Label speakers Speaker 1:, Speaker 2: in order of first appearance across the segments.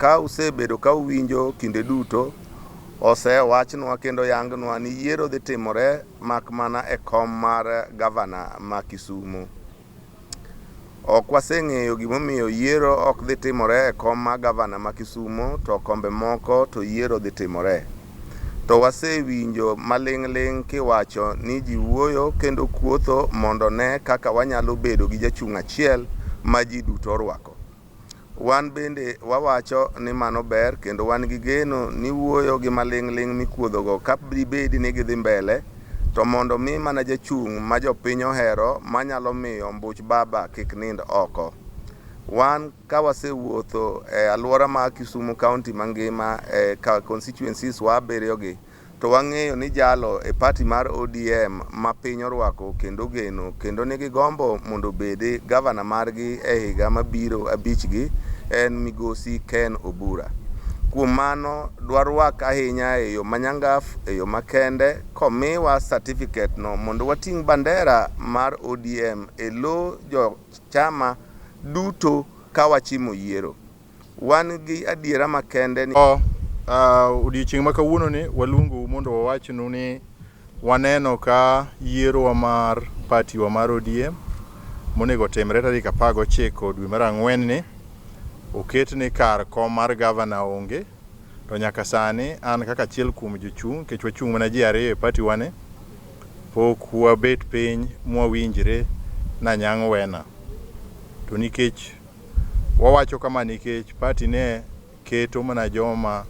Speaker 1: Ka usebedo ka uwinjo kinde duto osewachnwa kendo yangnwa ni yiero dhi timore mak mana e kom mar gavana ma Kisumo. Ok waseng'eyo gimomiyo yiero ok dhi timore e kom mar gavana ma Kisumo to kombe moko to yiero dhi timore. To wasewinjo maling'ling' kiwacho ni ji wuoyo kendo kuotho mondo ne kaka wanyalo bedo gi jachung' achiel ma ji duto orwako. Wan bende wawacho ni mano ber kendo wan gi geno ni wuoyo gi maling'ling' mikuodhogo ka dibedi ni gidhi mbele to mondo mi mana jachung' ma jopiny ohero manyalo miyo ombuch baba kik nind oko. Wan ka wasewuotho e aluora ma Kisumu County mangima e constituencies wa abiriyogi, To wang'eyo ni jalo e party mar ODM ma piny orwako kendo ogeno kendo nigi gombo mondo obedi Governor margi e higa mabiro abichgi en Migosi Ken Obura. Kuom mano dwarwak ahinya e yo manyangaf, e yo makende komiwa certificate no mondo wating' bandera mar ODM e lo jo chama duto kawachimo yiero. Wan gi adiera makende ni. O, uh,
Speaker 2: odiechieng' ma kawuono ni waluongou mondo wawachnu ni waneno ka yierowa mar patiwa mar ODM monego otimre tarik apar gochiko dwe mar ang'wen ni oket ni kar kom mar gavana onge to nyaka sani an kaka achiel kuom jochung' nikech wachung' mana ji ariyo e patiwa ni pok wabet piny mwawinjre na nyang' wena to nikech Wawacho kama nikech party ne keto mana joma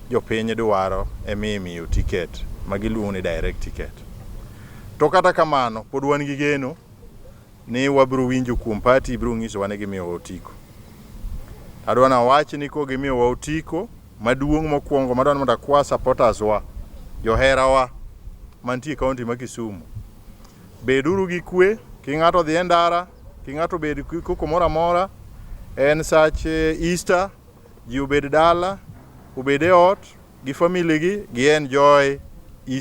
Speaker 2: jopiny dwaro ema imiyo ticket ma giluongo ni direct ticket. To kata kamano pod wan gi geno ni wabiro winjo kuom party biro nyisowa ni gimiyowa otiko. Adwa nawach ni ko gimiyowa otiko maduong' mokwongo madwa ni mondo akwa supporters wa, joherawa mantie kaunti ma Kisumu. Beduru gi kwe, ki ng'ato odhi e ndara, Ki ng'ato obed koko moro amora, en sach eh, Easter, ji obed dala, obed e ot gi family gi, gi enjoy Easter.